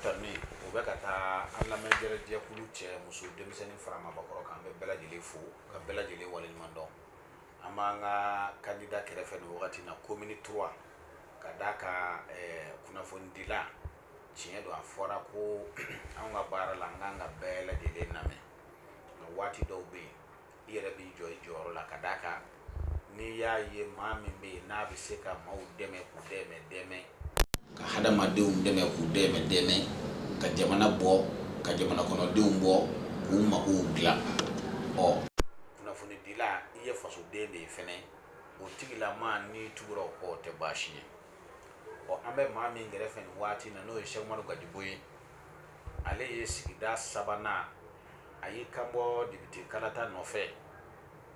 kami o bɛ ka taa an lamɛnbagajɛkulu cɛ muso denmisɛnnin fara maabakɔrɔ kan an bɛ bɛɛ lajɛlen fo ka bɛɛ lajɛlen waleɲuman dɔn an b'an ka kandida kɛrɛfɛ nin wagati na komini turuwa ka d'a kan kunnafonidila tiɲɛ don a fɔra ko an ka baara la an kan ka bɛɛ lajɛlen lamɛn nka waati dɔw bɛ yen i yɛrɛ b'i jɔ i jɔyɔrɔ la ka d'a kan n'i y'a ye maa min bɛ yen n'a bɛ se ka maaw dɛmɛ k'u dɛmɛ dɛmɛ ka hadamadenw dɛmɛ k'u dɛmɛ dɛmɛ ka jamana bɔ ka jamana kɔnɔdenw bɔ k'u magow dilan ɔ kunnafonidila i ye fasoden de ye fɛnɛ o tigilama n'i tugura o kɔ o tɛ baasi ye ɔ an bɛ maa min kɛrɛfɛ nin waati na n'o ye sɛki umaru gajigo ye ale ye sigida sabanan a y'i kanbɔ depite kalata nɔfɛ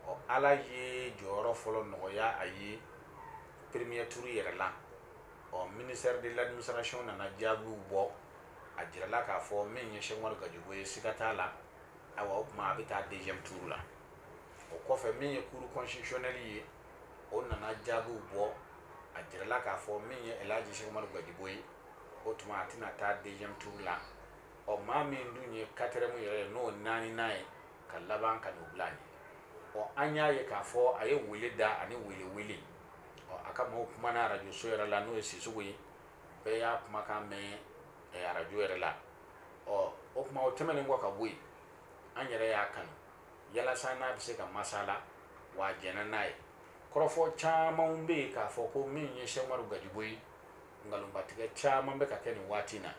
ɔ ala ye jɔyɔrɔ fɔlɔ nɔgɔya a ye peremiye tuuru yɛrɛ la ɔ minisitɛri de ladiminisitarasiyɔn nana jaabiw bɔ a jirala k'a fɔ min ye sɛki umaru gajigo ye siga t'a la ayiwa o tuma a bɛ taa deziyɛmu tuuru la o kɔfɛ min ye kuru kɔnsititisiyɔnɛli ye o nana jaabiw bɔ a jirala k'a fɔ min ye elaji sɛki umaru gajigo ye o tuma a tɛna taa deziyɛmu tuuru la ɔ maa min dun ye katiriyɛmu yɛrɛ ye n'o naaninan ye ka laban ka n'o bila a ɲɛ ɔ an y'a ye k'a fɔ a ye wele da ani wele wele ɔ a ka maaw kumana arajo so yɛrɛ la n'o ye sisoko ye bɛɛ y'a kumakan mɛn arajo yɛrɛ la ɔ o kuma o tɛmɛnen kɔ ka bɔ yen an yɛrɛ y'a kanu yalasa n'a bɛ se ka masala wa a jɛnna n'a ye kɔrɔfɔ camanw bɛ yen k'a fɔ ko min ye sɛki umaru gajigo ye nkalonbatigɛ caman bɛ ka kɛ nin waati in na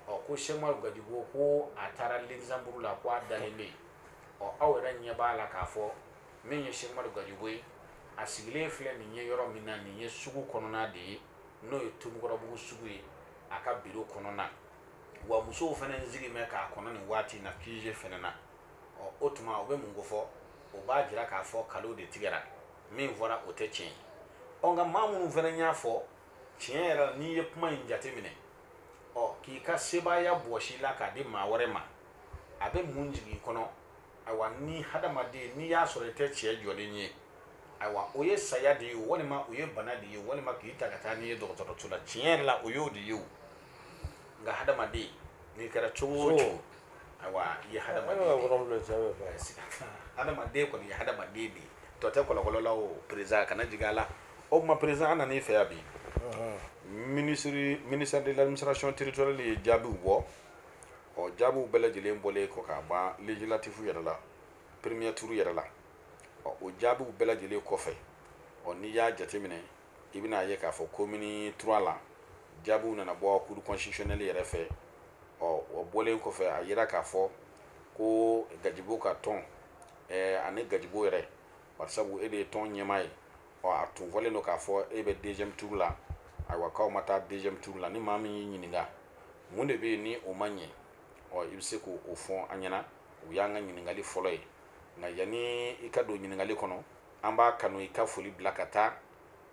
ɔ ko sɛki umaru gajigo ko a taara lukizanburu la ko a dalen bɛ yen ɔ aw yɛrɛ ɲɛ b'a la k'a fɔ min ye sɛki umaru gajigo ye a sigilen filɛ nin ye yɔrɔ min na nin ye sugu kɔnɔna de ye n'o ye tomikɔrɔbugu sugu ye a ka biro kɔnɔna wa musow fana sigilen k'a kɔnɔ nin waati na kuze fana na ɔ o tuma o bɛ mun kofɔ o b'a jira k'a fɔ nkalon de tigɛra min fɔra o tɛ tiɲɛ ye ɔ nka maa minnu fana y'a fɔ tiɲɛ yɛrɛ la n'i ye kuma in jateminɛ ɔ k'i ka sebaaya bɔsi i la k'a di maa wɛrɛ ma a bɛ mun jigin i kɔnɔ ayiwa ni hadamaden n'i y'a sɔrɔ i tɛ cɛ jɔlen ye ayiwa o ye saya de ye walima o ye bana de ye walima k'i ta ka taa n'i ye dɔgɔtɔrɔso la tiɲɛ yɛrɛ la o y'o de ye o nka hadamaden n'i kɛra cogo o cogo ayiwa i ye hadamaden hadamaden kɔni ye hadamaden de ye tɔ tɛ kɔlɔkɔlɔ la o perezidan kana jigin a la o tuma président an nana i fɛ yan bi mini ministère de l'administration territoriale ye jaabiw bɔ ɔ jaabiw bɛɛ lajɛlen bɔlen kɔ ka ban législatif yɛrɛ la premier tour yɛrɛ la ɔ o jaabiw bɛɛ lajɛlen kɔfɛ ɔ n'i y'a jateminɛ i bɛna a ye k'a fɔ commune trois la jaabiw nana bɔ cour constitutionnelle yɛrɛ fɛ ɔ o bɔlen kɔfɛ a yira k'a fɔ ko gajigo ka tɔn ɛɛ ani gajigo yɛrɛ bari sabu e de ye tɔn ɲɛmaa ye ɔ a tun fɔlen don k'a fɔ e bɛ deuxième tour la ayiwa k'aw ma taa deuxième tour la ni maa min y'i ɲininka mun de bɛ yen ni o ma ɲɛ ɔ i bɛ se k'o fɔ an ɲɛna o y'an ka ɲininkali fɔlɔ ye nka yanni i ka don ɲininkali kɔnɔ an b'a kanu i ka foli bila ka taa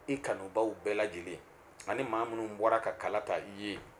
i kanubaw bɛɛ lajɛlen ani maa minnu bɔra ka kala ta i ye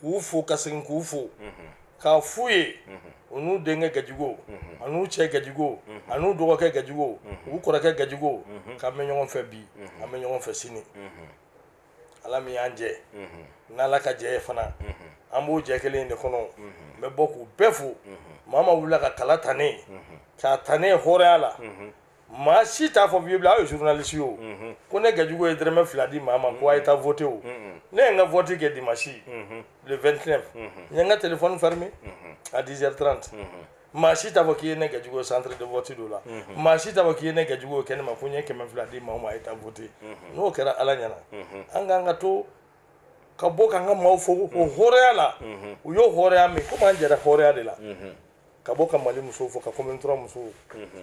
k'u fo ka segin k'u fo k'a f'u ye u n'u denkɛ gajigo an'u cɛ gajigo an'u dɔgɔkɛ gajigo u kɔrɔkɛ gajigo k'an bɛ ɲɔgɔn fɛ bi an bɛ ɲɔgɔn fɛ sini ala min y'an jɛ n'ala ka jɛ ye fana an b'o jɛ kelen de kɔnɔ n bɛ bɔ k'u bɛɛ fo maa o maa wulila ka kala ta ne ye k'a ta ne ye hɔrɔnya la maa si t'a fɔ bibila aw ye journaliste ye o mhm. ko ne gajigo ye dɔrɔmɛ fila di maa ma ko a ye taa vote o mhm. ne ye n ka vote kɛ dimanche mhm. le 29 n ye n ka téléphone fermé à 10h30 maa si t'a fɔ k'i ye ne gajigo ye centre de vote do la maa si t'a fɔ k'i ye ne gajigo ye kɛnɛ ma ko n ye kɛmɛ fila di maaw ma a ye taa vote n'o kɛra ala ɲɛna an k'an ka to ka bɔ k'an ka maaw fo o hɔrɔnya la u y'o hɔrɔnya min komi an jɛra hɔrɔnya de la ka bɔ ka mali musow fo ka commune trois musow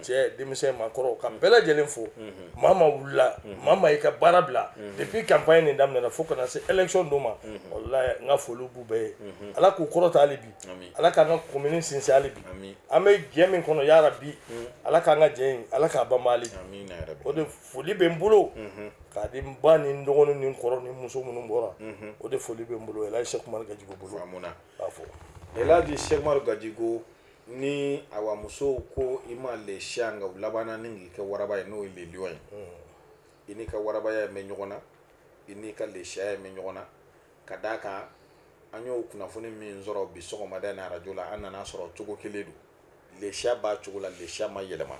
cɛ denmisɛn maakɔrɔ ka bɛɛ lajɛlen fo maa o maa wulila maa o maa y'i ka baara bila depuis campagne nin daminɛna fo ka na se élection don ma n ka foli b'u bɛɛ ye ala k'u kɔrɔta hali bi ala k'an ka commune sinsin hali bi an bɛ jɛ min kɔnɔ ya rabi ala k'an ka jɛ ala k'a banban o de foli bɛ n bolo k'a di n ba ni n dɔgɔnin ni n kɔrɔ ni muso minnu bɔra o de foli bɛ n bolo elhaji seku umaru gajigo bolo B'a fɔ elhaji seku umaru gajigo ni awa musow ko i ma le chat nka u labanna ni k'i kɛ waraba ye n'o ye le lion ye i n'i ka warabaya in bɛ ɲɔgɔn na i n'i ka le chat ya in bɛ ɲɔgɔn na ka d'a kan an y'o kunnafoni min sɔrɔ bi sɔgɔmada in arajo la an nana sɔrɔ cogo kelen don lesiya b'a cogo la lesiya ma yɛlɛma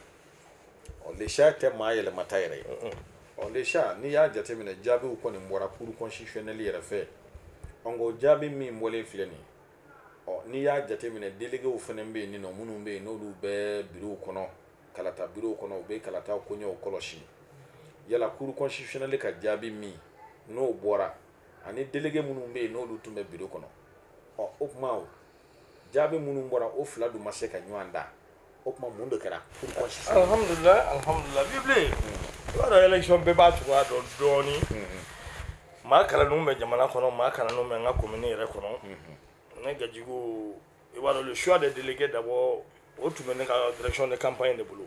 ɔ lesiya tɛ maa yɛlɛmata yɛrɛ ye ɔ lesiya n'i y'a jateminɛ jaabiw kɔni bɔra cour constitutionnelle yɛrɛ fɛ ɔ n ko jaabi min bɔlen filɛ nin ɔ n'i y'a jateminɛ déléguéw fana bɛ yen nɔ minnu bɛ yen n'olu bɛ bureauw kɔnɔ kalata bureauw kɔnɔ u bɛ kalata koɲɛw kɔlɔsi yala cour constitutionnelle ka jaabi min n'o bɔra ani délégué minnu bɛ yen n'olu tun bɛ bureau kɔnɔ ɔ o tuma jaabi minnu bɔra o fila dun ma se ka ɲɔgɔn da o tuma mun de kɛra alihamudulila alihamudulila vieux bilen i b'a dɔn élection bɛɛ b'a cogoya dɔn dɔɔnin maa kalannenw bɛ jamana kɔnɔ maa kalannenw bɛ n ka commune yɛrɛ kɔnɔ ne gajigo i b'a dɔn le choix des délégués d'abord o tun bɛ ne ka direction de campagne de bolo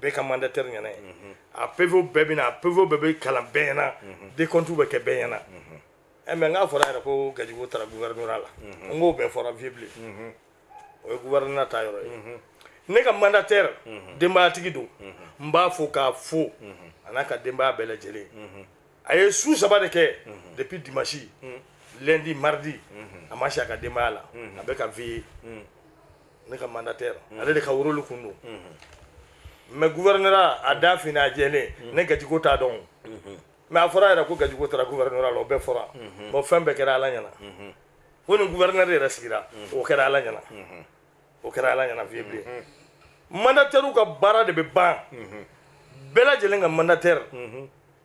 bɛɛ ka mandataire ɲɛna ye a PVw bɛɛ bɛ na a PVw bɛɛ bɛ kalan bɛɛ ɲɛna décompte bɛ kɛ bɛɛ ɲɛna ɛ mais n k'a fɔra yɛrɛ ko gajigo taara gouvernorat la n k'o bɛɛ fɔra vieux bilen o ye gouvernorat ta yɔrɔ ye ne ka mandataire denbayatigi don n b'a fo k'a fo a n'a ka denbaya bɛɛ lajɛlen a ye su saba de kɛ depuis dimanche lundi mardi a ma si a ka denbaya la a bɛ ka veille ne ka mandataire mm. ale de ka rôle kun don mm-hmm. mais gouvernorat a da fini a jɛlen mm. ne gajigo t'a dɔn mm-hmm. mais a fɔra yɛrɛ ko gajigo taara gouvernorat la o bɛɛ fɔra mm-hmm. bon fɛn bɛɛ kɛra ala ɲɛna ko ni gouverneur yɛrɛ sigira o kɛra ala ɲɛna o kɛra ala ɲɛna vieux bilen mandatairew ka baara de bɛ ban bɛɛ lajɛlen ka mandataire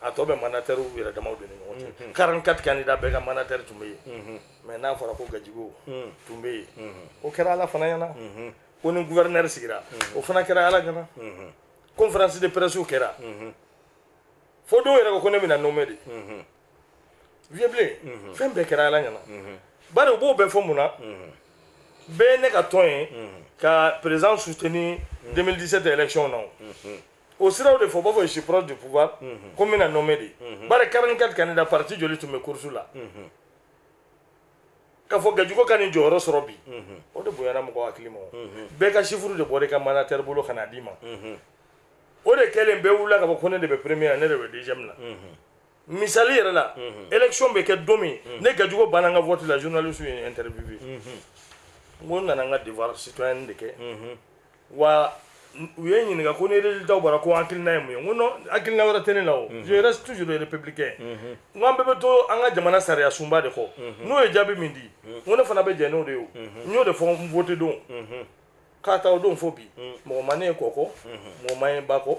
a tɔ bɛ mandatairew yɛrɛ damaw de ni ɲɔgɔn cɛ mhm. 44 candidats bɛɛ ka mandataire tun bɛ yen mhm. mais n'a fɔra ko gajigo mhm. tun bɛ yen o kɛra ala fana ɲɛna ko ni gouverneur sigira o fana kɛra ala ɲɛna conférence de pressew kɛra fo dɔw yɛrɛ ko ko ne bɛna nommé de vieux bilen fɛn bɛɛ kɛra ala ɲɛna bari u b'o bɛɛ fɔ mun na bɛɛ ye ne ka tɔn ye ka président soutenir 2017 élection na o siraw de fɔ u b'a fɔ je suis proche du pouvoir ko n bɛna nommé de bari 44 candidats parti joli tun bɛ course la k'a fɔ gajigo ka nin jɔyɔrɔ sɔrɔ bi o de bonyana mɔgɔ hakili ma bɛɛ ka chiffre de bɔra i ka mandataire bolo ka n'a d'i ma o de kɛlen bɛɛ wulila k'a fɔ ko ne de bɛ premier ne de bɛ deuxième na misali yɛrɛ la élection bɛ kɛ don min ne gajigo banna n ka vote la journalistew ye n interviewé n ko n nana n ka devoir citoyen de kɛ wa u ye n ɲininka ko ni résultat bɔra ko hakilina ye mun ye n ko non hakilina wɛrɛ tɛ ne la o je reste toujours le républicain n ko an bɛɛ bɛ to an ka jamana sariya sunba de kɔ n'o ye jaabi min di n ko ne fana bɛ jɛn n'o de ye o n y'o de fɔ n vote don k'a ta o don fo bi mɔgɔ ma ne ye kɔ kɔ mɔgɔ ma n ye ba kɔ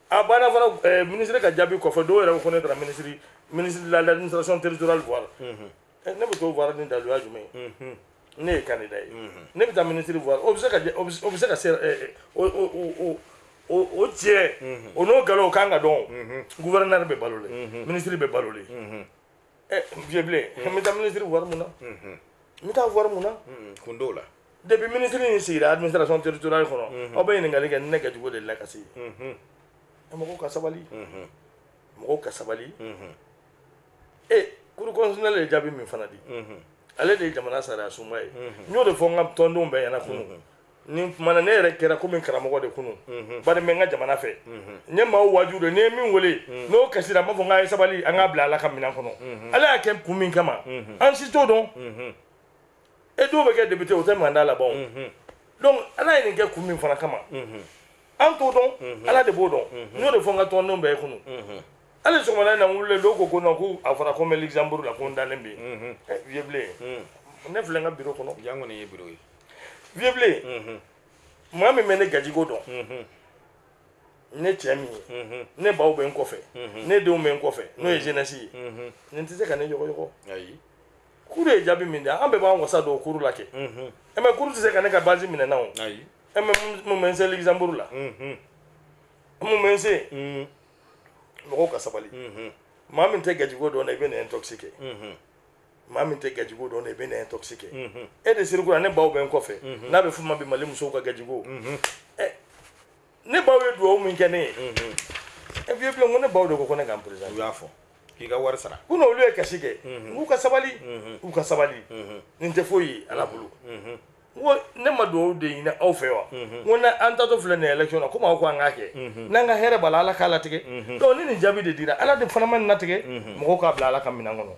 a banna fana eh, minisiri ka jaabi kɔfɛ dɔw yɛrɛ ko ne taara minisiri ministre de l'administration territoriale voir mhm. eh, ne bɛ t'o voir ni daluya jumɛn ye mhm. ne ye candidat ye mhm. ne bɛ taa minisiri voir o bɛ se ka o bɛ se ka se eh, o o o o tiɲɛ o n'o galon o kan ka dɔn gouverneur bɛ balo le minisiri bɛ balo le ɛ vieux blen n bɛ taa minisiri voir mun na n bɛ taa voir mun na kun t'o la depuis minisiri in sigira administration territoriale kɔnɔ aw bɛ ɲininkali kɛ ni ne gajigo delila ka se yen ɛ mɔgɔw ka sabali mɔgɔw ka sabali e cour constitutionnelle ye jaabi min fana di ale de ye jamana sariya sunba ye n y'o de fɔ n ka tɔndenw bɛɛ ɲɛna kunu nin tuma na ne yɛrɛ kɛra komi karamɔgɔ de kunu mhm. bari n bɛ n ka jamana fɛ mhm. n ye maaw waaju de ne ye min wele mhm. n'o kasira n b'a fɔ n k'a ye sabali an k'a bila ala ka minɛn kɔnɔ ala y'a kɛ kun min kama an si t'o dɔn e dɔw bɛ kɛ député o tɛ mandat laban donc ala ye nin kɛ kun min fana kama an t'o dɔn ala de b'o dɔn n y'o de fɔ n ka tɔndenw bɛɛ ye kunu hali sɔgɔmada in na n wulilen dɔw ko ko non ko a fɔra ko n bɛ luxembourg la ko n dalen bɛ yen eh, vieux blen ne filɛ n ka biro kɔnɔ yan kɔni ye biro ye vieux blen maa min bɛ ne gajigo dɔn ne cɛ min ye ne baw bɛ n kɔfɛ ne denw bɛ n kɔfɛ n'o ye jeunesse ye nin tɛ se ka ne yɔgɔyɔgɔ ayi kuru ye jaabi min di an bɛɛ b'an wasa don kuru la kɛ ɛ mɛ kuru tɛ se ka ne ka base minɛ na o ayi ɛ mɛ mun bɛ n se luxembourg la mun bɛ n se mɔgɔw ka sabali maa min tɛ gajigo dɔn i bɛ na intoxiqué maa min tɛ gajigo dɔn i bɛ na intoxiqué e de sirikura ne baw bɛ n kɔfɛ n'a bɛ fɔ n ma bi mali musow ka gajigo ne baw ye dugawu min kɛ ne ye e vieux blen ko ne baw de ko ko ne ka n présenter u y'a fɔ k'i ka wari sara ko n'olu ye kasi kɛ k'u ka sabali u ka sabali nin tɛ foyi ye ala bolo ko ne ma dugawu de ɲini aw fɛ wa mhm. ko na an taatɔ filɛ nin election na komi aw ko an k'a kɛ mhm. n'an ka hɛrɛ b'a la ala k'a latigɛ mhm. donc ni nin jaabi de dira ala de fana ma nin latigɛ mɔgɔw k'a bila ala ka minɛn kɔnɔ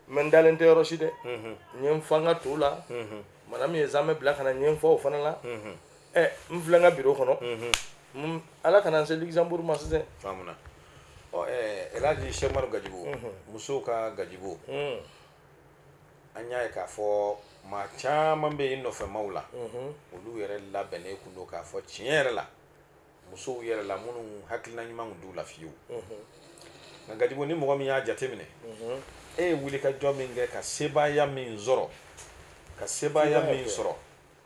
mɛ n dalen tɛ yɔrɔ si dɛ n ye n fa n ka to la madame ye zamɛ bila ka na n ye n fa o fana la ɛ n filɛ n ka biro kɔnɔ ala kana n se luxembourg ma sisan ɔ ɛ elhaji sɛku umaru gajigo musow ka gajigo an y'a ye k'a fɔ maa caman bɛ i nɔfɛmaaw la olu yɛrɛ labɛnnen kun don k'a fɔ tiɲɛ yɛrɛ la musow yɛrɛ la minnu hakilina ɲuman tun t'u la fiyewu nka gajigo ni mɔgɔ min y'a jateminɛ e ye wuli ka jɔ min kɛ ka sebaaya min sɔrɔ ka sebaaya min sɔrɔ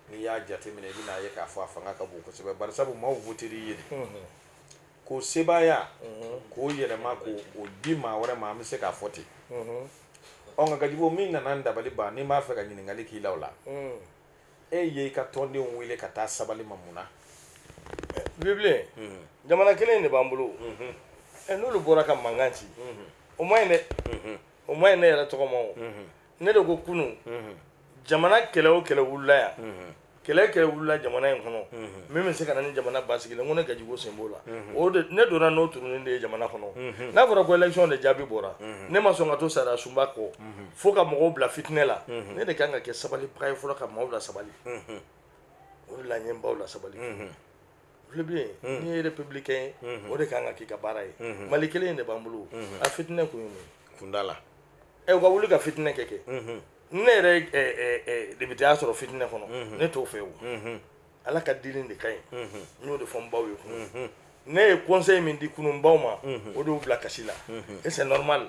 n'i y'a jateminɛ i bɛn'a ye k'a fɔ a fanga ka bon kosɛbɛ bari sabu maaw votera i ye de k'o sebaaya k'o yɛlɛma k'o di maa wɛrɛ ma an bɛ se k'a fɔ ten ɔ nka gajigo min nana n dabali ban ni n b'a fɛ ka ɲininkali k'i la o la e ye i ka tɔndenw wele ka taa sabali ma mun na vieux blen jamana kelen in de b'an bolo n'olu bɔra ka mankan ci o ma ɲi dɛ o ma ɲi ne yɛrɛ tɔgɔ ma o ne de ko kunun jamana kɛlɛ o kɛlɛ wulila yan kɛlɛ kɛlɛ wulila jamana in kɔnɔ min bɛ se ka na ni jamana basigi ye n ko ne gajigo sen b'o la o de ne dɔnna n'o turunin de ye jamana kɔnɔ n'a fɔra ko élection de jaabi bɔra ne ma sɔn ka to sariya sunba kɔ fo ka mɔgɔw bila fitinɛ la ne de kan ka kɛ sabalibaga ye fɔlɔ ka maaw lasabali o de la n ye n baw lasabali vieux blen n'i ye républicain ye o de kan ka k'i ka baara ye mali kelen in de b'an bolo a fitinɛ kun ye mun ye kundala ɛ u ka wuli ka fitinɛ kɛ kɛ ne yɛrɛ députéya sɔrɔ fitinɛ kɔnɔ ne t'o fɛ o ala ka dili de ka ɲi n y'o de fɔ n baw ye kunun ne ye conseil min di kunun baw ma o de y'u bila kasi la et c'est normal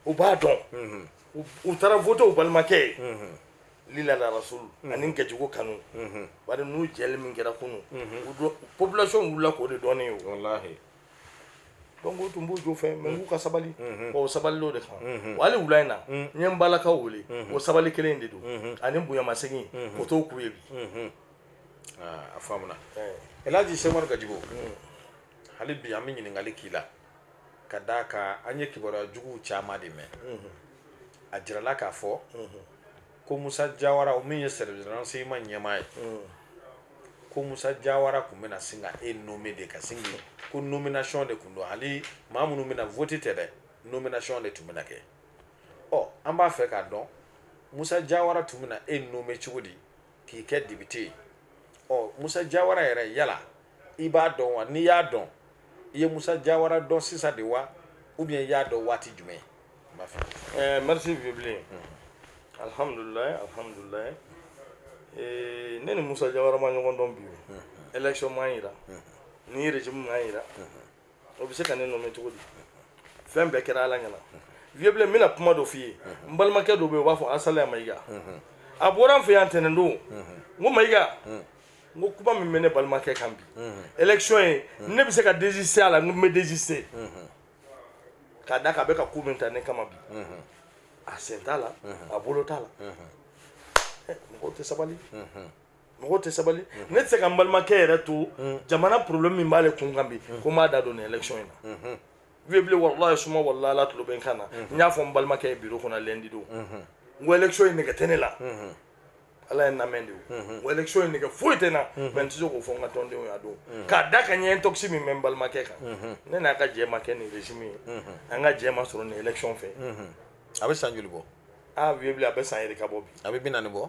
u b'a dɔn u taara voter u balimakɛ ye lila rasul ani gajigo kanu bari n'u jɛli min kɛra kunun population wulila k'o de dɔn ne ye o wallahi donc o tun b'u jo fɛ mais n k'u ka sabali o sabali o de kan wa hali wula in na n ye n balakaw wele o sabali kelen de don ani bonyamasegin o t'o k'u ye bi a faamuna elaji sɛki umar gajigo hali bi an bɛ ɲininkali k'i la ka d'a kan an ye kibaruya juguw caman de mɛn a jirala k'a fɔ ko musa jawara o min ye service renseignement ɲɛmaa ye ko musa jawara tun bɛna sin ka e nommer de ka sin ko nomination de tun don hali maa minnu bɛna voter tɛ dɛ nomination de tun bɛna kɛ ɔ an b'a fɛ k'a dɔn musa jawara tun bɛna e nommer cogo di k'i kɛ député ye ɔ musa jawara yɛrɛ yala i b'a dɔn wa n'i y'a dɔn i ye musa jawara dɔn sisan de wa ou bien i y'a dɔn waati jumɛn ma fɛ eh, merci vieux blen hmm. alhamdulilayi alhamdulilayi eh, ne ni musa jawara ma ɲɔgɔn dɔn bi o hmm. élection m'an yira hmm. ni régime m'an yira o bɛ se ka ne nommer cogo di fɛn bɛɛ kɛra ala ɲɛ na vieux blen n bɛna kuma dɔ f'i ye n balimakɛ dɔ bɛ yen u b'a fɔ asalaya mayiga a bɔra n fɛ yan tɛnɛn don n ko mayiga n ko kuma min bɛ ne balimakɛ kan bi élection ye ne bɛ se ka désister a la n ko n bɛ désister k'a da k'a bɛ ka ko min ta ne kama bi a sen t'a la a bolo t'a la mɔgɔw tɛ sabali mɔgɔ tɛ sabali ne tɛ se ka n balimakɛ yɛrɛ to jamana problème min b'ale kun kan bi ko n b'a da don nin élection in na vieux bilen walayi suma walayi ala tulo bɛ n kan na n y'a fɔ n balimakɛ ye biro kɔnɔ lundi don n ko élection in nɛgɛ tɛ ne la ala ye n lamɛn de ye o élection in nɛgɛ foyi tɛ n na mais n tɛ se k'o fɔ n ka tɔndenw y'a don k'a da kan nin intox min bɛ n balimakɛ kan ne n'a ka jɛ ma kɛ nin régime ye an ka jɛ ma sɔrɔ nin élection fɛ a bɛ san joli bɔ aa vieux bilen a bɛ san yɛrɛ ka bɔ bi a bɛ bi naani bɔ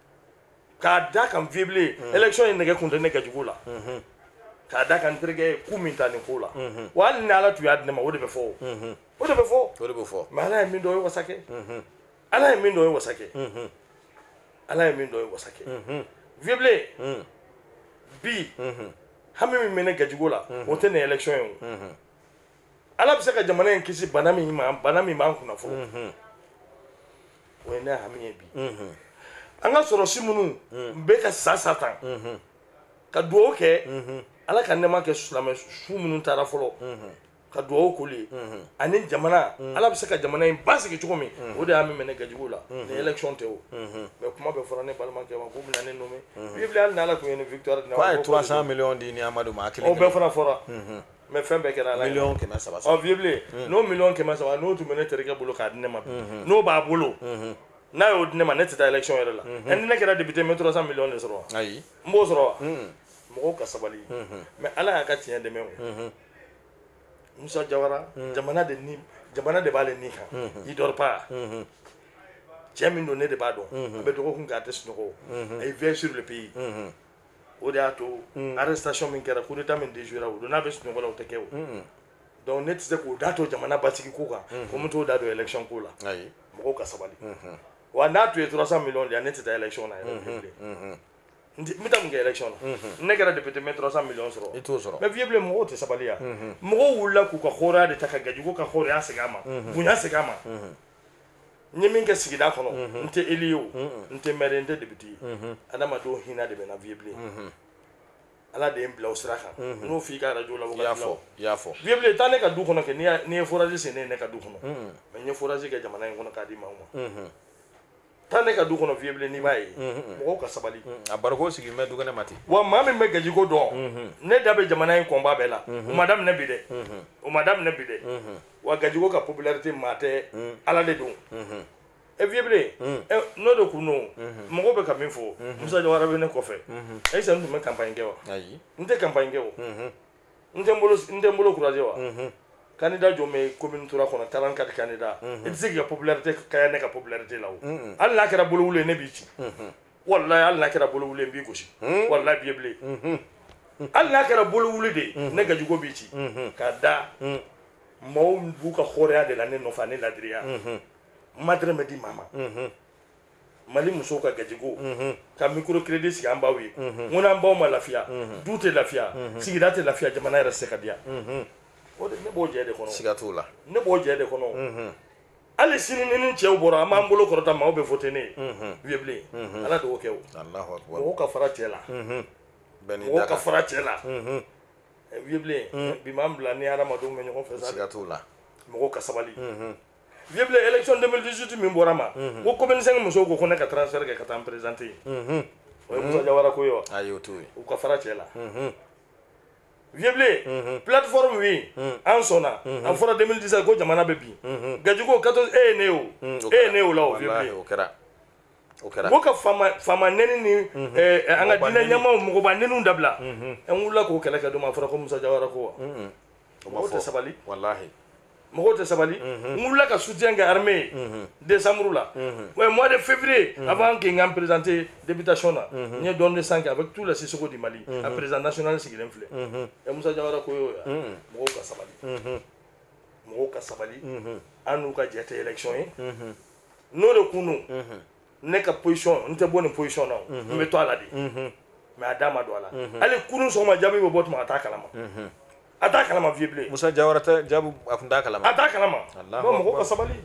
k'a da kan fiyebilen mm. élection ye nɛgɛ kunte ne kɛcogo la mm-hmm. k'a da kan terikɛ ye ku min ta nin ko la mm-hmm. wa hali ni ala tun y'a di ne ma o de bɛ fɔ o mm-hmm. o de bɛ fɔ o de bɛ fɔ mais ala ye min dɔ ye wasa kɛ ala ye min dɔ ye wasa kɛ ala ye min dɔ ye wasa kɛ fiyebilen mm. bi hami min bɛ ne gajigo la o tɛ nin élection ye o ala bɛ se ka jamana in kisi bana min ma bana min b'an kunna fɔlɔ mhm. o ye ne hami ye bi mhm. an ka sɔrɔsi minnu mhm. bɛ ka sa sa tan ka dugawu kɛ ala ka nɛɛma kɛ silamɛ su minnu taara fɔlɔ ka dugawu k'olu ye ani jamana ala bɛ se ka jamana in basigi cogo min o de hami bɛ ne gajigo la nin élection tɛ o mais kuma bɛ fɔra ne balimakɛ ma k'u bɛna ne nommé vieux bilen hali n'ala tun ye nin victoire di ne ma k'a ye 300 millions di ne amadu ma a kelen o bɛɛ fana fɔra mais fɛn bɛɛ kɛra ala ye miliyɔn kɛmɛ saba ɔ vieux bilen hmm. n'o miliyɔn kɛmɛ saba n'o tun bɛ ne terikɛ bolo k'a di ne ma hmm. n'o b'a bolo hmm. n'a y'o di ne ma ne tɛ taa élection yɛrɛ la ɛ ni ne kɛra député n bɛ 300 miliyɔn de sɔrɔ ayi n b'o sɔrɔ wa mɔgɔw ka sabali mais ala y'a ka tiɲɛ dɛmɛ o musa jawara jamana de ni jamana de b'ale ni kan il dort pas cɛ min don ne de b'a dɔn a bɛ dɔgɔkun kɛ a tɛ sunɔgɔ a ye veille sur le pays o de y'a to arrestation min kɛra coup d'Etat min déjouera o don n'a bɛ sunɔgɔ la o tɛ kɛ o donc ne tɛ se k'o da to jamana basigi ko kan ko n bɛ t'o da don élection ko la mɔgɔw ka sabali wa n'a tun ye 300 millions di yan ne tɛ taa élection na yɛrɛ bilen n bɛ taa mun kɛ élection na ne kɛra député n bɛ 300 millions sɔrɔ i t'o sɔrɔ mais vieux bilen mɔgɔw tɛ sabali yan mɔgɔw wulila k'u ka hɔrɔnya de ta ka gajigo ka hɔrɔnya segin a ma bonya segin a ma n ye min kɛ sigida kɔnɔ n tɛ élu ye o n tɛ maire n tɛ député ye adamadenw hinɛ de bɛ n na vieux bilen ala de ye n bila o sira kan n'o f'i ka arajo la wagati la i y'a fɔ vieux bilen taa ne ka du kɔnɔ kɛ n'i ye forage sen ye ne ka du kɔnɔ mais n ye forage kɛ jamana in kɔnɔ k'a di maaw ma taa ne ka du kɔnɔ vieux bilen n'i b'a ye mɔgɔw ka sabali a barikon sigilen bɛ du kɛnɛ ma ten wa maa min bɛ gajigo dɔn ne da bɛ jamana in koba bɛɛ la o ma daminɛ bi dɛ o ma daminɛ bi dɛ wa gajigo ka popularité maa tɛ ala de don e vieux bilen n'o de kun don mɔgɔw bɛ ka min fɔ musa jawara bɛ ne kɔfɛ ayisa n tun bɛ campagne kɛ wa n tɛ campagne kɛ o n tɛ n bolo croiser wa candidat jɔn bɛ commune 3 kɔnɔ 44 candidats i tɛ se k'i ka popularité kaɲa ne ka popularité la o hali n'a kɛra bolo wuli ye ne b'i ci walahi hali n'a kɛra bolo wuli ye n b'i gosi walahi vieux bilen hali n'a kɛra bolo wuli de ne gajigo b'i ci ka da maaw b'u ka hɔrɔnya de la ne nɔfɛ ne ladiriya ma dɔrɔmɛ di maa ma mali musow ka gajigo mhm. ka microcrédit sigi an baw ye mhm. n ko n'an baw ma lafiya mhm. du tɛ lafiya sigida tɛ lafiya jamana yɛrɛ tɛ se ka diya o de ne b'o jɛ de kɔnɔ siga t'o la ne b'o jɛ de kɔnɔ hali sini ni ni cɛw bɔra an b'an bolo kɔrɔta maaw bɛ voter ne ye vieux bilen ala de y'o kɛ o mɔgɔw ka fara cɛ la mɔgɔw ka fara cɛ la vieux bilen bi m'an bila ni hadamadenw bɛ ɲɔgɔn fɛ sa siga t'o la mɔgɔw ka sabali vieux bilen élection 2018 min bɔra ma mhm. ko commune 5 musow ko ko ne ka transfert kɛ ka taa n présenter yen mhm. o ye musa jawara ko ye wa ayi o t'o ye u ka fara cɛ la mhm. vieux bilen plateforme oui an sɔnna a fɔra 2017 ko jamana bɛ bin gajigo 14 e ye ne o e ye ne o la o vieux bilen o kɛra o kɛra ko ka faama faama nɛni ni eh, eh, an ka diinɛ ɲɛmaaw mɔgɔba nɛniw dabila an wulila k'o kɛlɛ kɛ tuma a fɔra ko musa jawara ko wa mɔgɔw tɛ sabali walahi mɔgɔw tɛ sabali n wulila ka soutien kɛ armée ye décembre la ouais mois de février avant que n ka n présenter députation na n ye don de sang kɛ avec tous les Sissoko du Mali a président national sigilen filɛ ɛ Musa Jawara ko y'o ye mɔgɔw ka sabali mɔgɔw ka sabali an n'u ka jɛ tɛ élection ye n'o de kun don ne ka position n tɛ bɔ nin position na o mhm. n bɛ to a la de mhm. mais a da ma don a la mhm. hali kunun sɔgɔma jaabi bɛ bɔ tuma a t'a kalama a t'a kalama vieux bilen musa jawara tɛ jaabi a tun t'a kalama a t'a kalama bon mɔgɔw ka sabali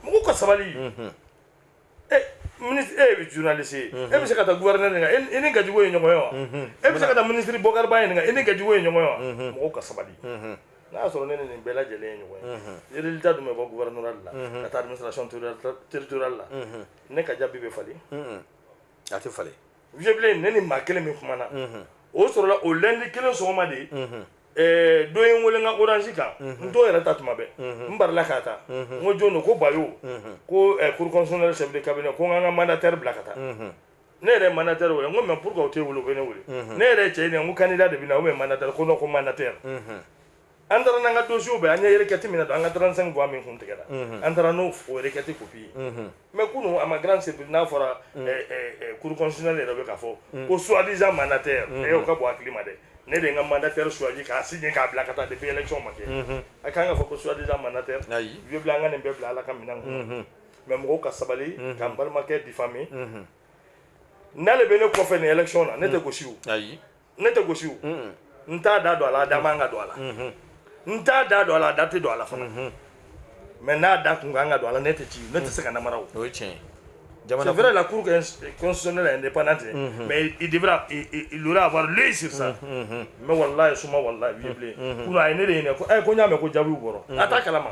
mɔgɔw ka sabali e ministre e bɛ journaliste ye e bɛ se ka taa gouverneur ɲininka e ni gajigo ye ɲɔgɔn ye wa e bɛ se ka taa ministre bokari ba ɲininka e ni gajigo ye ɲɔgɔn ye wa mɔgɔw ka sabali n'a y'a sɔrɔ ne ni nin bɛɛ lajɛlen ye ɲɔgɔn ye résultat dun bɛ bɔ gouvernorat la ka taa administration territoriale la ne ka jaabi bɛ falen a tɛ falen vieux bilen ne ni maa kelen min kumana o sɔrɔla o lundi kelen sɔgɔma de ye dɔ ye n wele n ka orange kan n t'o yɛrɛ ta tuma bɛɛ n barila k'a ta n ko jɔn don ko bayo ko cour constitutionnelle chef de cabinet ko n ka n ka mandataire bila ka taa ne yɛrɛ mana tɛ wele ko mɛ pkaw tɛ wolo ne wele ne yɛrɛ cɛ ɲɛ ko kan da de bɛ na o mana tɛ ko ko mana tɛ an taara n'an ka donso bɛ an ɲɛkɛti min na an ka garanransɛn gan min kun tigɛra an taara n'o fkɛti kopi ye mɛ kunun a ma garan sen n'a fɔra kuruksi ne yɛrɛ bɛ ka fɔ ko suwadiz mana tɛ e ka bɔ a hakili ma dɛ ne de ka manda tɛ suwaji k'a si k'a bila ka taa de bɛɛlɛ ma kɛ a k'an ka fɔ ko suwadiz mana tɛ u bila an ka nin bɛɛ bila ala ka minɛn mais mɔgɔw ka sabali mhm. k'an balimakɛ diffamer mhm. n'ale bɛ ne kɔfɛ nin élection na ne tɛ mhm. gosi o ne tɛ gosi o n t'a da don a la a da man ka don a la n t'a da don a la a da tɛ don a la fana mais n'a da kun kan ka don a la ne tɛ ci ne tɛ se ka namara o o ye tiɲɛ c'est vrai la cour constitutionnelle est indépendante mais il devrait il aurait avoir l'œil sur ça mais wallahi suma wallahi vieux bilen kunu a ye ne de ɲininka ko eh ko n y'a mɛn ko jaabiw bɔra a t'a kalama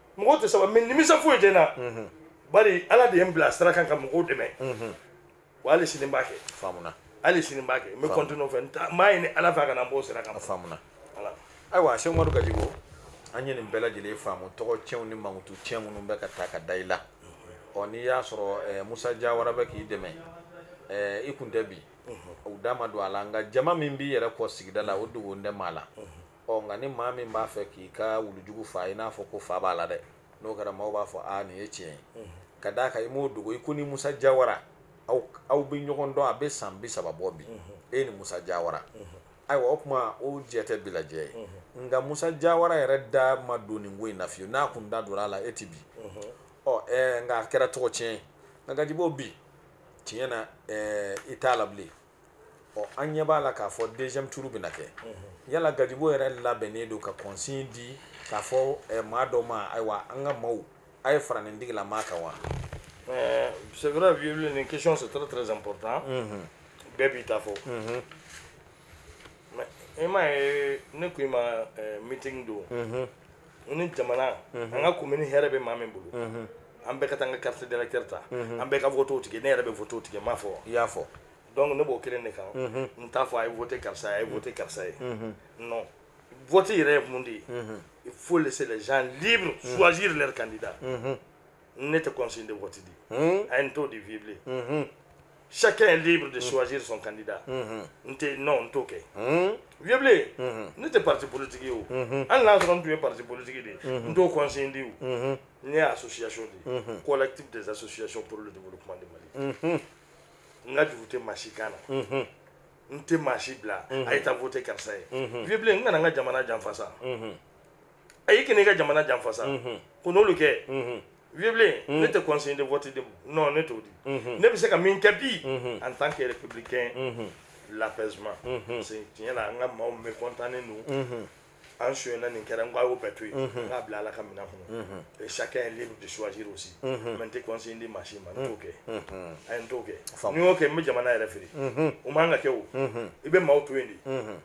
mɔgɔw tɛ sabali mais nimisa foyi tɛ n na mhm. bari ala de ye n bila sira kan ka mɔgɔw dɛmɛ mhm. wa hali sini n b'a kɛ faamuna hali sini n b'a kɛ n bɛ continuer o fɛ n b'a ɲini ala fɛ a kana n b'o sira kan faamuna ayiwa sɛki umaru gajigo an ye nin bɛɛ lajɛlen faamu tɔgɔ tiɲɛw ni mankutu tiɲɛ minnu bɛ ka ta ka da i la ɔ n'i y'a sɔrɔ eh, musa jawara bɛ k'i dɛmɛ eh, i kun tɛ bin u da ma don a la nka jama min b'i yɛrɛ kɔ sigida la o dogolen tɛ maa la ɔ nka ni maa min b'a fɛ k'i ka wulujugu fa i n'a fɔ ko fa b'a la dɛ n'o kɛra maaw b'a fɔ a nin ye tiɲɛ ye ka d'a kan i m'o dogo i ko ni musa jawara aw aw bɛ ɲɔgɔn dɔn a bɛ san bi saba bɔ bi e ni musa jawara ayiwa o kuma o jɛ tɛ bi la jɛ ye nka musa jawara yɛrɛ da ma don nin ko in na fiyewu n'a kun da donna a la e ti bin ɔ ɛɛ nka a kɛra tɔgɔ tiɲɛ ye nka gajibo bi tiɲɛ na ɛɛ i t'a la bilen ɔ an ɲɛ b'a la k'a fɔ deuxième tour bɛna kɛ yala gajibo yɛrɛ labɛnnen don ka consigne di k'a fɔ eh, maa dɔ ma ayiwa an ka maaw a ye fara nin digila maa kan wa euh, c'est vrai vieux nin question c'est très très important bɛɛ b'i ta fɔ mais i m'a ye ne ko i ma euh, meeting don n ni jamana an ka komini hɛrɛ bɛ maa min bolo an bɛɛ ka taa an ka carte d'électeur ta an bɛɛ ka votew tigɛ ne yɛrɛ bɛ votew tigɛ n m'a fɔ wa i y'a fɔ donc ne b'o kelen de kan n t'a fɔ a ye vote karisa ye a ye vote karisa ye non vote yɛrɛ ye mun de ye il faut laisser les gens libres choisir leur candidat ne tɛ consigne de vote di a ye n t'o di vieux bilen chacun est libre de choisir son candidat n tɛ non n t'o kɛ vieux blé ne tɛ parti politique ye o hali n'a sɔrɔ n tun ye parti politique de ye n t'o consigne di o ne ye association de ye collectif des associations pour le développement de Mali n ka juru tɛ maa si kan na n tɛ maa si bila a ye taa voter karisa ye vieux blé n kana n ka jamana janfa sa a y'i kɛ ka jamana janfa sa ko n'olu kɛ vieux bilen ne tɛ consigne de vote di non ne t'o di ne bɛ se ka min kɛ bi en tant que républicain l'apaisement parce que tiɲɛ la an ka maaw mekɔntanlen don an sonyana nin kɛra n ko a y'o bɛɛ to yen n k'a bila ala ka minɛn kɔnɔ chacun est libre de choisir aussi mais n tɛ consigne di maa si ma n t'o kɛ a ye n t'o kɛ ni n y'o kɛ n bɛ jamana yɛrɛ feere o man kan ka kɛ o i bɛ maaw to yen de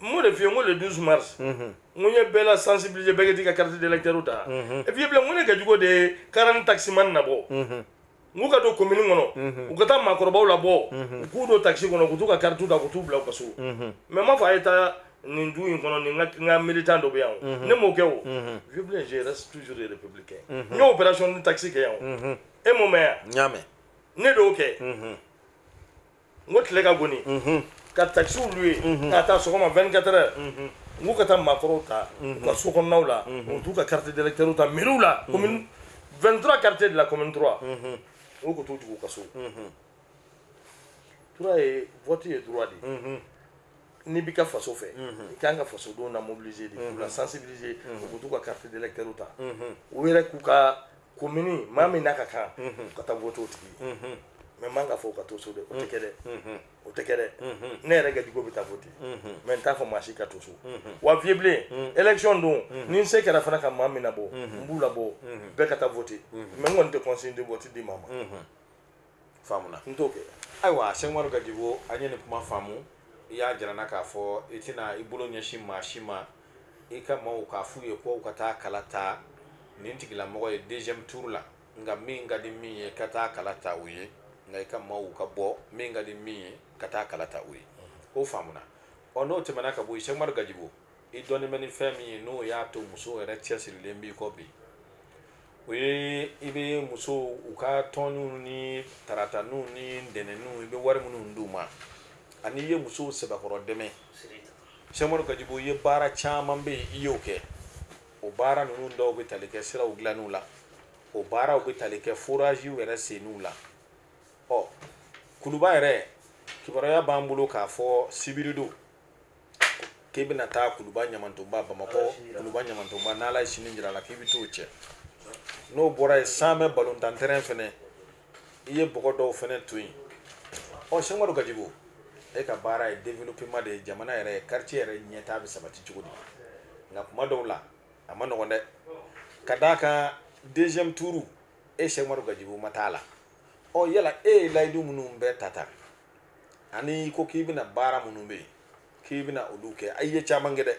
m'o de f'i ye n ko le 12 mars n ko n ye bɛɛ la sensibiliser bɛɛ k'i ka carte d'électeur ta e vieux bilen n ko ne gajigo de ye 40 taximan nabɔ n k'u ka don commune kɔnɔ u ka taa maakɔrɔbaw labɔ u k'u don taxi kɔnɔ k'u t'u ka carte ta k'u t'u bila u ka so mais n m'a fɔ a ye taa nin du in kɔnɔ ni n ka militant dɔ bɛ yan o ne m'o kɛ o vieux bilen je reste toujours républicain n y'o opération ni taxi kɛ yan o e m'o mɛn yan n y'a mɛn ne de y'o kɛ n ko tile ka goni ka taxiw louer k'a ta sɔgɔma 24 heures n k'u ka taa maakɔrɔw ta u ka so kɔnɔnaw la u t'u ka carte d'électeur ta mairie la commune 23 quartiers de la commune 3 u ka t'u jigin u ka so tura ye vote ye droit de ye n'i b'i ka faso fɛ i kan ka fasodenw na mobiliser de k'u la sensibiliser u ka t'u ka carte d'électeur ta u yɛrɛ k'u ka commune maa min n'a ka kan ka taa voter o tigi mais man kan k'a fɔ u ka to so dɛ o tɛ kɛ dɛ o tɛ kɛ dɛ ne yɛrɛ gajigo bɛ taa voter mais n t'a fɔ maa si ka to so wa vieux bilen élection don ni n se kɛra fana ka maa min labɔ n b'u labɔ bɛɛ ka taa voter mais n kɔni tɛ consigne de vote di maa ma faamuna n t'o kɛ ayiwa sɛk umaru gajibo an ye nin kuma faamu i y'a jira an na k'a fɔ i tɛna i bolo ɲɛsin maa si ma i ka maaw k'a f'u ye k'u ka taa kala ta nin tigilamɔgɔ ye deuxième tour la nka min ka di min ye ka taa kala ta u ye nka i ka maaw ka bɔ min ka di min ye ka taa kala ta u ye o faamuna ɔ n'o tɛmɛna ka bɔ yen sɛk umaru gajibo i dɔnnen bɛ ni fɛn min ye n'o y'a to musow yɛrɛ cɛsirilen b'i kɔ bi o ye i bɛ musow u ka tɔnninw ni tarataninw ni ntɛnɛnninw i bɛ wari minnu d'u ma ani i ye musow sɛbɛkɔrɔ dɛmɛ sɛk umaru gajibo i ye baara caman bɛ yen i y'o kɛ o baara ninnu dɔw bɛ tali kɛ siraw dilanniw la o baaraw bɛ tali kɛ foraziw yɛrɛ senniw la ɔ kuluba yɛrɛ kibaruya b'an bolo k'a fɔ sibiridon k'i bɛna taa kuluba ɲamantonba bamakɔ kuluba ɲamantonba n'ala ye sini jira la k'i bɛ t'o cɛ n'o bɔra yen samɛ balontan tɛrɛn fɛnɛ i ye bɔgɔ dɔw fɛnɛ to yen ɔ sɛk umaru gajibo e ka baara ye développement de ye jamana yɛrɛ quartier yɛrɛ ɲɛtaa bɛ sabati cogo di nka kuma dɔw la a man nɔgɔn dɛ ka d'a kan deuxième tour e sɛk umaru gajibo ma taa la ɔ yala e ye layidu minnu bɛɛ ta ta ani ko k'i bɛna baara minnu bɛ yen k'i bɛna olu kɛ a ye caman kɛ dɛ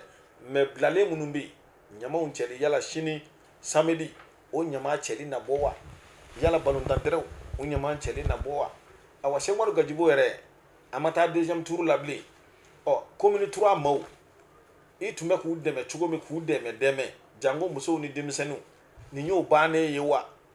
mais bilalen minnu bɛ yen ɲamaw cɛli yala sini samedi o ɲama cɛli na bɔ wa yala balontan tɛrɛnw o ɲama cɛli na bɔ wa awa sɛk umaru gajibo yɛrɛ a ma taa deuxième tour la bilen ɔ commune trois maaw i tun bɛ k'u dɛmɛ cogo min k'u dɛmɛ dɛmɛ janko musow ni denmisɛnninw nin y'o bannen ye wa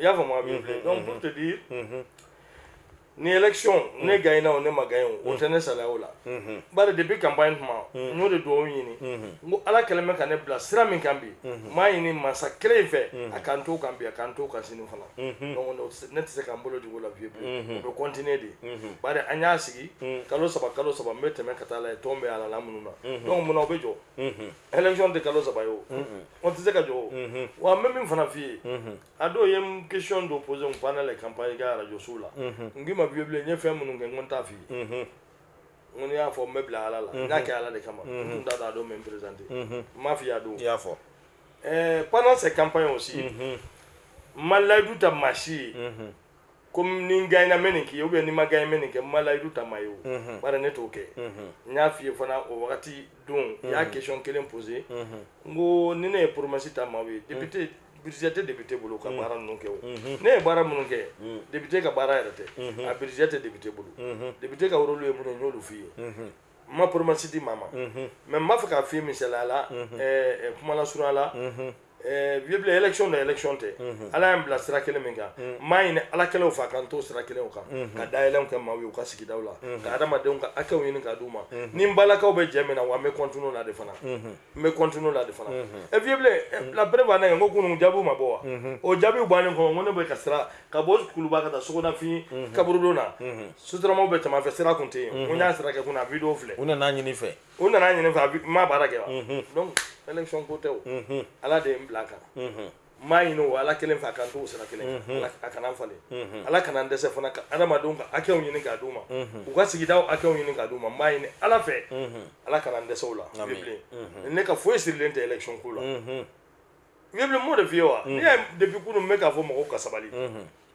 i y'a faamu a vieux bilen donc pour te dire ni élection ne gagnena o ne ma gagne o o tɛ ne salaya o la bari depuis campagne tuma n y'o de dugawu ɲini n ko ala kɛlen bɛ ka ne bila sira min kan bi n b'a ɲini mansa kelen in fɛ a ka n to o kan bi a ka n to o kan sini fana donc ne tɛ ne tɛ se ka n bolo jigin o la fiyewu fiyewu o bɛ continuer de bari an y'a sigi kalo saba kalo saba n bɛ tɛmɛ ka taa lajɛ tɔn bɛ a la la minnu na donc munna o bɛ jɔ élection tɛ kalo saba ye o o tɛ se ka jɔ mhm. wa n bɛ min fana f'i ye mhm. a dɔw ye n question dɔ posé n pendant les campagnes ka radio sow la mhm. n k'i ma vieux bilen n ye fɛn minnu kɛ n ko n t'a f'i ye n ko n'i y'a fɔ n bɛ bila ala la n k'a kɛ ala de kama n tun t'a dɔn a don n bɛ n présenter n m'a f'i ye a don i y'a fɔ eh, pendant ces campagnes aussi n ma layidu ta maa si ye ko ni n gagnéna n bɛ nin k'i ye ou bien ni n ma gagné n bɛ nin kɛ n ma layidu ta maa ye o bari ne t'o kɛ n y'a f'i ye fana o wagati don i y'a question kelen posé n ko ni ne ye promesse ta maaw ye député budget tɛ député bolo ka baara ninnu kɛ o ne ye baara minnu kɛ député ka baara yɛrɛ tɛ a budget tɛ député bolo député ka rôle ye minnu ye n y'olu f'i ye n ma promesse di maa ma mais n b'a fɛ k'a f'i ye misaliya la kuma lasurunya la ɛɛ vieux bilen élection don élection tɛ Ala ye n bila sira kelen min kan n b'a ɲini Ala kelen in fɛ a ka n to sira kelen in kan ka dayɛlɛnw kɛ maaw ye u ka sigidaw la ka adamadenw ka hakɛw ɲini ka d'u ma ni n balakaw bɛ jɛ min na wa n bɛ continuer o la de fana n bɛ continuer o la de fana ɛ vieux bilen ɛ, la preuve en est que n ko kunun jaabiw ma bɔ wa o jaabiw bannen kɔfɛ n ko ne bɛ ka sira ka bɔ kuluba ka taa sogonafin kaburudon na sotaramaw bɛ tɛmɛ a fɛ sira tun tɛ yen n ko n y'a sira kɛ kunun a video filɛ u nan'a ɲini n fɛ u nan'a ɲini n fɛ a bi n ma baara kɛ wa mhm. donc élection ko tɛ o mhm. ala de ye n bila a kan mhm. n b'a ɲini o ala kelen fɛ a ka n t'o sira kelen a kana falen ala kana n dɛsɛ fana ka adamadenw ka hakɛw ɲini k'a d'u ma u ka sigidaw hakɛw ɲini k'a d'u ma n b'a ɲini ala fɛ ala kana n dɛsɛ o la bilen ne ka foyi sirilen tɛ élection ko la vieux bilen n b'o de f'i ye wa ne y'a depuis kunun n bɛ k'a fɔ mɔgɔw ka sabali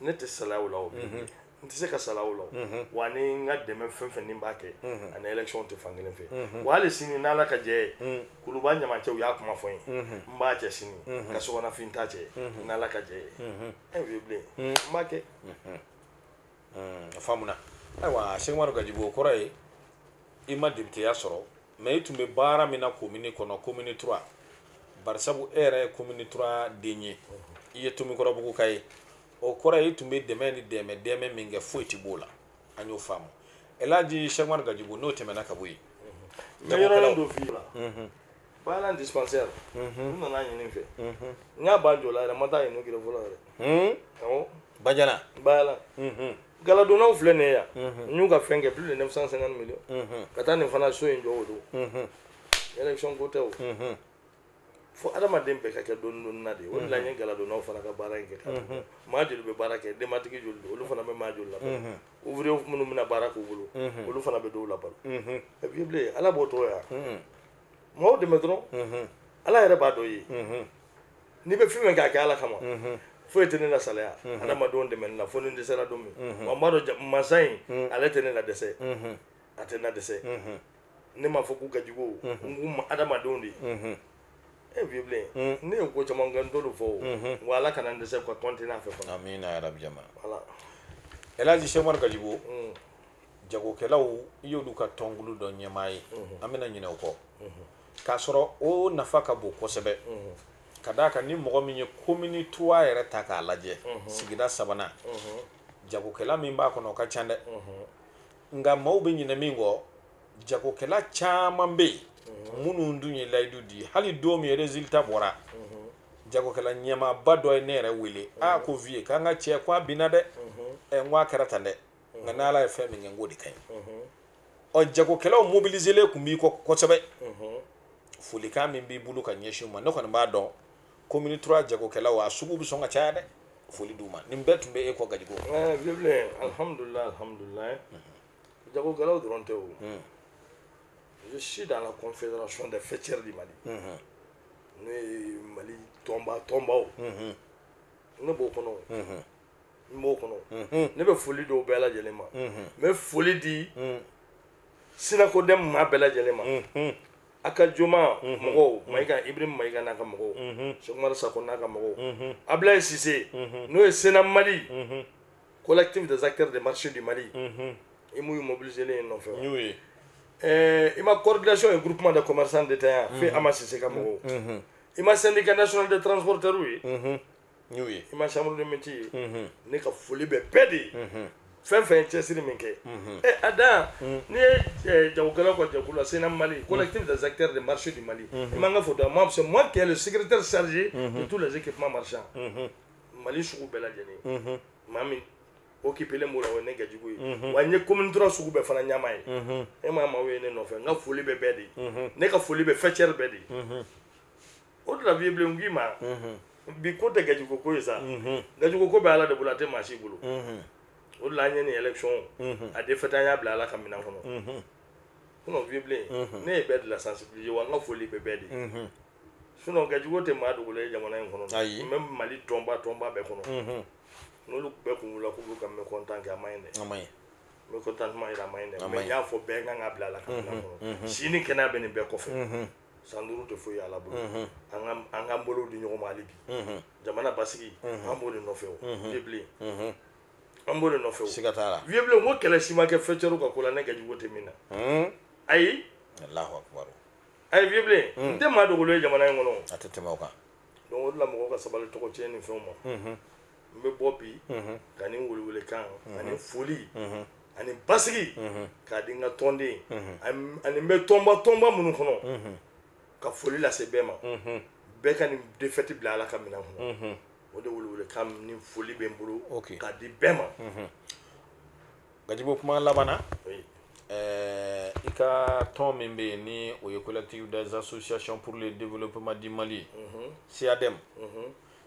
ne tɛ salaya o la o mhm. n tɛ se ka salaya o la mhm. wa ni n ka dɛmɛ fɛn fɛn ni n b'a kɛ mhm. a ni élection tɛ fan kelen fɛ wa hali sini n'ala ka jɛ ye kuluba ɲaman cɛ u y'a kuma fɔ n ye n b'a cɛ sini ka sogonafin ta cɛ n'ala ka jɛ ye ɛ vieux bilen n b'a kɛ a faamuna ayiwa Cheick Oumar Gadjigo o kɔrɔ ye i ma députéya sɔrɔ mais i tun bɛ baara min na commune kɔnɔ commune trois barisabu e yɛrɛ ye commune trois den ye i ye tomikɔrɔbugu ka ye o kɔrɔ i tun bɛ dɛmɛ ni dɛmɛ dɛmɛ min kɛ foyi tɛ b'o la an y'o faamu elaji Cheick Oumar Gadjigo n'o tɛmɛna ka bɔ yen n bɛ yɔrɔ dɔ f'i la bajalan dispensaire u nan'a ɲini n fɛ n y'a ban jɔ la yɛrɛ n ma taa a inaugurer fɔlɔ yɛrɛ bajalan bajalan galadonnaw filɛ nin ye yan n y'u ka fɛn kɛ plus de 950 millions ka taa nin fana so in jɔ o dun élection ko tɛ o fo adamaden bɛɛ ka kɛ dɔɔni dɔɔni na de o de la n ye galadonnaw fana ka baara in kɛ ka maa joli bɛ baara kɛ denbatigi joli don olu fana bɛ maa joli labalo ouvrier minnu bɛna baara k'u bolo olu fana bɛ dɔw labalo vieux bilen ala b'o tɔgɔ ya maaw dɛmɛ dɔrɔn ala yɛrɛ b'a dɔ ye n'i bɛ fɛn fɛn k'a kɛ ala kama foyi tɛ ne lasalaya adamadenw dɛmɛ na fo ni n dɛsɛra don min wa n b'a dɔn mansa in ale tɛ ne ladɛsɛ a tɛ n ladɛsɛ ne m'a fɔ k'u ka jugu n k'u ma adamadenw de ye vieux bilen ne ye ko caman kɛ n t'olu fɔ o wa ala kana n dɛsɛ ka continuer a fɛ fana amina ya rabi jama voilà elaji sɛkumaru gajigo jagokɛlaw i y'olu ka tɔnkulu dɔ ɲɛmaa ye an bɛna ɲinɛ o kɔ k'a sɔrɔ o nafa ka bon kosɛbɛ ka d'a kan ni mɔgɔ min ye commune trois yɛrɛ ta k'a lajɛ sigida sabanan jagokɛla min b'a kɔnɔ o ka ca dɛ nka maaw bɛ ɲinɛ min kɔ jagokɛla caman bɛ yen minnu dun ye layidu di hali don min résultat bɔra jagokɛla ɲɛmaaba dɔ ye ne yɛrɛ wele a ko vieux k'an ka cɛ ko a binna dɛ ɛ n ko a kɛra tan dɛ nka n'ala ye fɛn min kɛ n k'o de ka ɲi ɔ jagokɛlaw mobiliselen tun b'i kɔ kosɛbɛ folikan min b'i bolo ka ɲɛsin u ma ne kɔni b'a dɔn commune trois jagokɛlaw a sugu bɛ sɔn ka caya dɛ foli d'u ma nin bɛɛ tun bɛ e kɔ gajigo bilen alhamdulilayi alhamdulilayi jagokɛlaw dɔrɔn tɛ o je suis dans la confédération des faîtières du Mali n'o ye Mali tɔnba tɔnbaw ne b'o kɔnɔ n b'o kɔnɔ ne bɛ foli d'o bɛɛ lajɛlen ma n bɛ foli di synacodem maa bɛɛ lajɛlen ma a ka joma mɔgɔw mayiga ibrahim mayiga n'a ka mɔgɔw sɛkumaru sako n'a ka mɔgɔw abilaye sise n'o ye CNAM mali collectif des acteurs des marchés du mali i m'u ye mobiliselen ye n nɔfɛ y'o ye ɛɛ i ma coordination et groupement de commerçants détaillants fo ama sise ka mɔgɔw i ma syndicat national des transporteurw ye n y'o ye i ma chambre de métier ye mhm. ne ka foli bɛ bɛɛ de ye mhm. fɛn fɛn ye cɛsiri min kɛ mhm. eh, a dan mm. n'i ye eh, jagokɛlaw ka jɛkulu la CNAM mali mm. collectif des acteurs des marchés du mali i man ka foto moi c'est moi qui est le secrétaire chargé de tous les équipements marchands mali sugu bɛɛ lajɛlen maa min occupelen b'o la o ye ne gajigo ye wa n ye commune trois sugu bɛɛ fana ɲɛmaa ye e ma maaw ye ne nɔfɛ n ka foli bɛ bɛɛ de ye ne ka foli bɛ faîtière bɛɛ de ye o de la vieux bilen n k'i ma bi ko tɛ gajugo ko ye sa gajugo ko bɛ ala de bolo a tɛ maa si bolo o de la an ye nin élection a défaite an y'a bila ala ka minɛn kɔnɔ sinon vieux bilen ne ye bɛɛ de la sensibiliser wa n ka foli bɛ bɛɛ de ye sinon gajugo tɛ maa dogolen ye jamana in kɔnɔ même mali tɔnba tɔnba bɛɛ kɔnɔ n'olu bɛɛ kun wulila k'u b'u ka mécontent kɛ a man ɲi dɛ mécontentement jira a man ɲi dɛ mais n y'a fɔ bɛɛ kan k'a bila ala ka minɛn kɔnɔ si ni kɛnɛya bɛ nin bɛɛ kɔfɛ san duuru tɛ foyi ye ala bolo an k'an bolo di ɲɔgɔn ma hali bi jamana basigi an b'o de nɔfɛ vieux bilen an b'o de nɔfɛ siga t'a la vieux bilen ko kelen si ma kɛ fɛnɛrɛ ka ko la ne gajugo tɛ min na ayi allahu akbar ayi vieux bilen n tɛ maa dogolen ye jamana in kɔnɔ a tɛ tɛmɛ o kan donc o de la mɔgɔ ka sabali tɔgɔcɛnni fɛnw ma n bɛ bɔ bi ka nin welewelekan ani foli ani basigi k'a di n ka tɔnden ani n bɛ tɔnba tɔnba minnu kɔnɔ ka foli lase bɛɛ ma bɛɛ ka nin défaite bila ala ka minɛn kɔnɔ o de welewelekan ni foli bɛ n bolo k'a di bɛɛ ma gajugo kuma laban i ka tɔn min bɛ yen ni o ye collectif des associations pour le développement du mali ye CADEM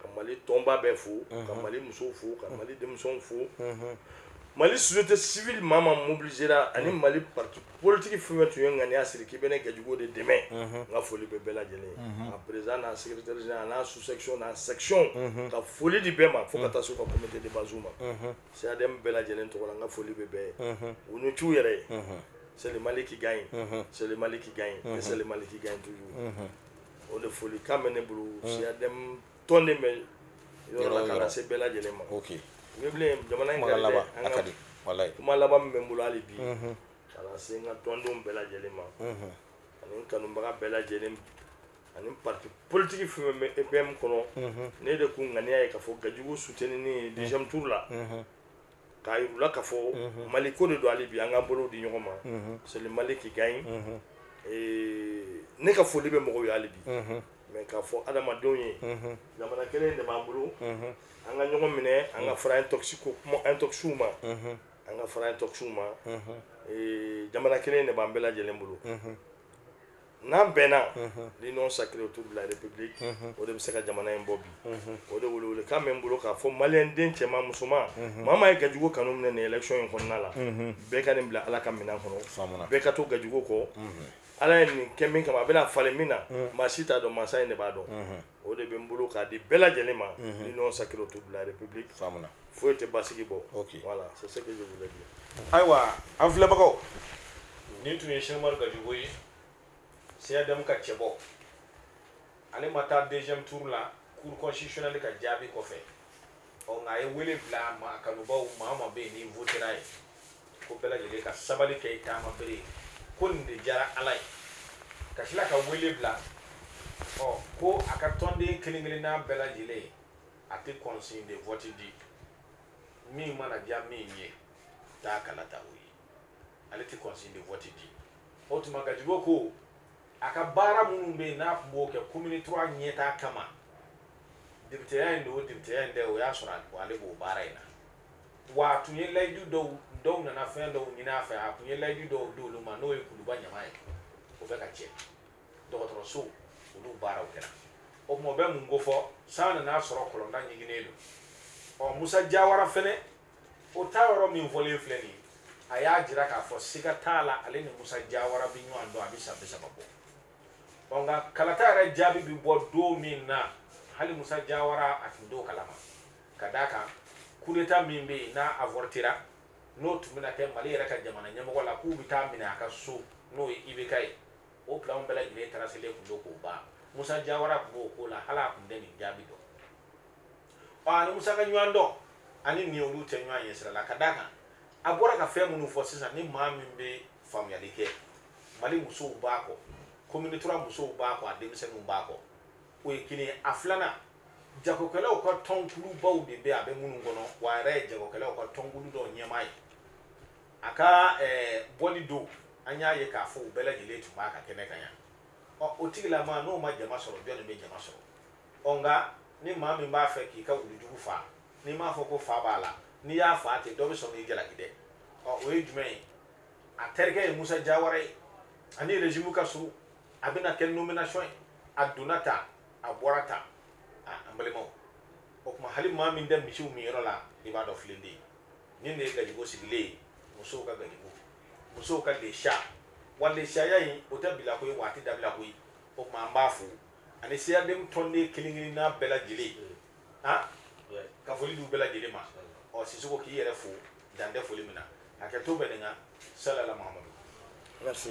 ka mali tɔnba bɛ fo ka mali musow fo ka mali denmisɛnw fo mali tɛ sibiri maa ma mobilisera ani mali politigi f tun ye ŋaniya siri k'i bɛ ne kɛjugu de dɛmɛ n ka foli bɛ bɛɛ lajɛlen a perez n'a s n'a su sɛcɔn na sɛcɔn ka foli de bɛɛ ma fo ka taa so ka kuntɛ de baz ma saya bɛɛ lajɛlen tɔgɔ la n ka foli bɛ bɛɛ ye u ni c yɛrɛ ye seli mali kika ɲi seli mali kika ɲi seli mali kika ɲi tuuru o de foli kan bɛ ne bolo CADEM tɔnden bɛɛ yɔrɔ la k'a lase bɛɛ lajɛlen ma ok vieux bilen jamana in kuma kɛlen laban bɛ an a ka ka di walayi kuma laban min bɛ n bolo hali bi k'a lase n ka tɔndenw bɛɛ lajɛlen ma ani n kanubaga bɛɛ lajɛlen ani parti politiki fɛn fɛn bɛ EPM kɔnɔ ne de ko ŋaniya ye k'a fɔ gajugu soutenini ye deuxième tour la k'a yir'u la k'a fɔ mali ko de don hali bi an k'an bolow di ɲɔgɔn ma c'est le mali qui gagne ne ka foli bɛ mɔgɔw ye hali bi mais k'a fɔ adamadenw ye jamana kelen de b'an bolo an ka ɲɔgɔn minɛ an ka fara ko kuma intoxw ma an ka fara intoxw ma jamana kelen de b'an bɛɛ lajɛlen bolo n'an bɛnna l'union sacrée autour de la république o de bɛ se ka jamana in bɔ bi o de welewelekan bɛ n bolo k'a fɔ maliyɛn den cɛman musoman maa maa ye gajugu kanu minɛ nin élection in kɔnɔna la bɛɛ ka nin bila ala ka minɛn kɔnɔ bɛɛ ka to gajugu kɔ ala ye nin kɛ min kama a bɛna falen min na maa si t'a dɔn mansa in de b'a dɔn o de bɛ n bolo k'a di bɛɛ lajɛlen ma l'union sacrée autour de la république faamuya foyi tɛ basigi bɔ voilà c'est ce que je voulais dire ayiwa an filɛbagaw nin tun ye Cheikh Umaru Gajigo ye CADM ka cɛbɔ ale ma taa deuxième tour la cour constitutionnelle ka jaabi kɔfɛ ɔ nka a ye wele bila a ma a kanubaw maa o maa bɛ yen n'i votera a ye ko bɛɛ lajɛlen ka sabali kɛ i taama bere ye ko nin de diyara ala ye ka tila ka wele bila ɔ ko a ka tɔnden kelen kelenna bɛɛ lajɛlen ye a tɛ consigne de vote di min mana diya min ye taa kala ta o ye ale tɛ consigne de vote di o tuma gajigo ko a ka baara minnu bɛ yen n'a tun b'o kɛ commune trois ɲɛtaa kama depiteya in don o depiteya in tɛ o y'a sɔrɔ ale b'o baara in na wa a tun ye layidu dɔw dɔw nana fɛn dɔw ɲini a fɛ a tun ye layidu dɔw di olu ma n'o ye kuluba ɲama ye o bɛ ka cɛ dɔgɔtɔrɔso olu baaraw kɛra o tuma o bɛ mun ko fɔ san nana a sɔrɔ kɔlɔnda ɲiginnen don ɔ musa jawara fɛnɛ o ta yɔrɔ min fɔlen filɛ nin ye a y'a jira k'a fɔ siga t'a la ale ni musa jawara bɛ ɲɔgɔn dɔn a bɛ san bi saba bɔ ɔ nka kalata yɛrɛ jaabi bɛ bɔ don min na hali musa jawara a tun t'o kalama ka d'a kan kudeta min bɛ yen n'a avortera n'o tun bɛna kɛ mali yɛrɛ ka jamana ɲɛmɔgɔ la k'u bɛ taa a minɛ a ka so n'o ye ibk ye o pilanw bɛɛ lajɛlen taraselen tun don k'o ban musa jawara tun b'o ko la hali a tun tɛ nin jaabi dɔn ɔ a ni musa ka ɲɔgɔn dɔn ani nin olu tɛ ɲɔgɔn ye sira la ka d'a kan a bɔra ka fɛn minnu fɔ sisan ni maa min bɛ faamuyali kɛ mali musow b'a kɔ commune trois musow b'a kɔ a denmisɛnninw b'a kɔ o ye kelen ye a filanan jagokɛlaw ka tɔnkulubaw de bɛ a bɛ minnu kɔnɔ wa a yɛrɛ ye jagokɛlaw ka tɔnkulu dɔw ɲɛmaa ye a ka eh, bɔli don an y'a ye k'a fɔ u bɛɛ lajɛlen tun b'a ka kɛnɛ kan yan ɔ o tigilama n'o ma jama sɔrɔ jɔn de bɛ jama sɔrɔ ɔ nka ni maa min b'a fɛ k'i ka wulujugu faa n'i m'a fɔ ko fa b'a la n'i y'a faa ten dɔ bɛ sɔn k'i jalaki dɛ ɔ o ye jumɛn ye a terikɛ ye musa jawara ye a ni régime ka surun a bɛna kɛ nomination ye a donna tan a bɔra tan an balimaw o tuma hali maa min tɛ misiw min yɔrɔ la i b'a dɔn filen de ye nin de ye gajigo sigilen ye musow ka gajigo musow ka lesiya wa lesiyaya in o tɛ bila koyi wa a tɛ dabila koyi o tuma an b'a fo ani CADM tɔnden kelen kelen n'a bɛɛ lajɛlen ah ka foli d'u bɛɛ lajɛlen ma ɔ sisoko k'i yɛrɛ fo dan tɛ foli min na hakɛto bɛ nin kan salala mahamadu merci